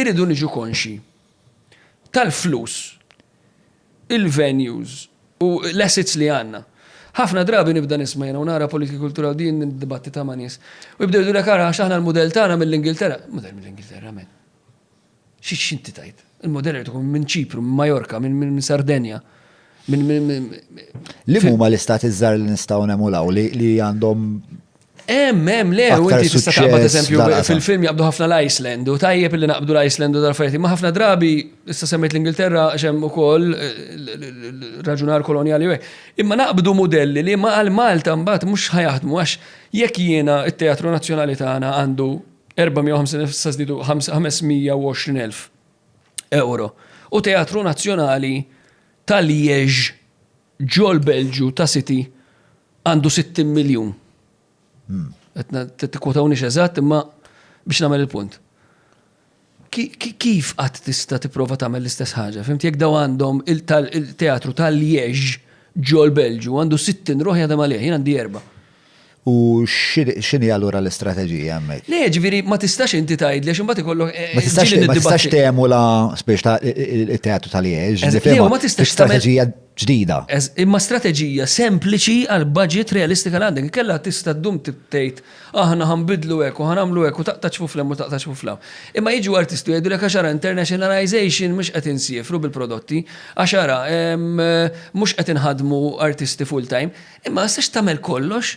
irridu niġu konxji tal-flus, il-venues u l-assets li għandna. Ħafna drabi nibda nisma' jiena u nara politika kulturali din niddibattita ma' nies. U jibdew jgħidulek ara għax aħna l-mudell tagħna mill-Ingilterra. Mudell mill-Ingilterra men. Xi x'inti tgħid? Il-mudell irid ikun minn Ċipru, minn Majorka, minn Sardenja. Li huma l-istati żgħar li nistgħu nemulaw li għandhom Em, em, le, u inti tista' taqbad eżempju fil-film jaqbdu ħafna l-Iceland u tajjeb li naqbdu l-Iceland u dal-affarijiet. Ma ħafna drabi issa semmejt l-Ingilterra xem ukoll eh, raġunar koloniali u Imma naqbdu modelli li ma għal Malta mbagħad mhux ħajaħdmu għax jekk jiena it-Teatru Nazzjonali tagħna għandu 450,000 euro u Teatru Nazzjonali tal-Liex Ġol-Belġju ta' City għandu 60 miljun. Tikkwotawniex eżatt imma biex nagħmel il-punt. Kif qatt tista' tipprova tagħmel l-istess ħaġa? Fimti jekk daw għandhom il-teatru ta' Liège ġol-Belġju għandu 60 ruħ jaħdem għalih, jien għandi erba'. U x'inhi allura l-istrateġija hemmhekk? Le, ġifieri ma tistax inti tgħidli għax imbagħad ikollok eh, Ma tistax ġieli ma tistax niddibattu- t'emula spiex ta' it-teatru tal-Liex. Eż- le, u ma tistax tagħmel- Strateġija ġdida. Eż- Imma strateġija sempliċi għal budget realistika li għandek. Inkella tista' ddum t- tgħid aħna ħa nbiddlu hekk u ħa nagħmlu hekk u taqta' ċ-ċfuf 'l hemm u taqta' ċ-ċfuf 'l hawn. Imma jiġu artisti u jgħidulek għax ara internationalization mhux qed insiefru bil-prodotti, għax ara ehm, mhux qed inħaddmu artisti full-time. Imma issa x'tagħmel kollox?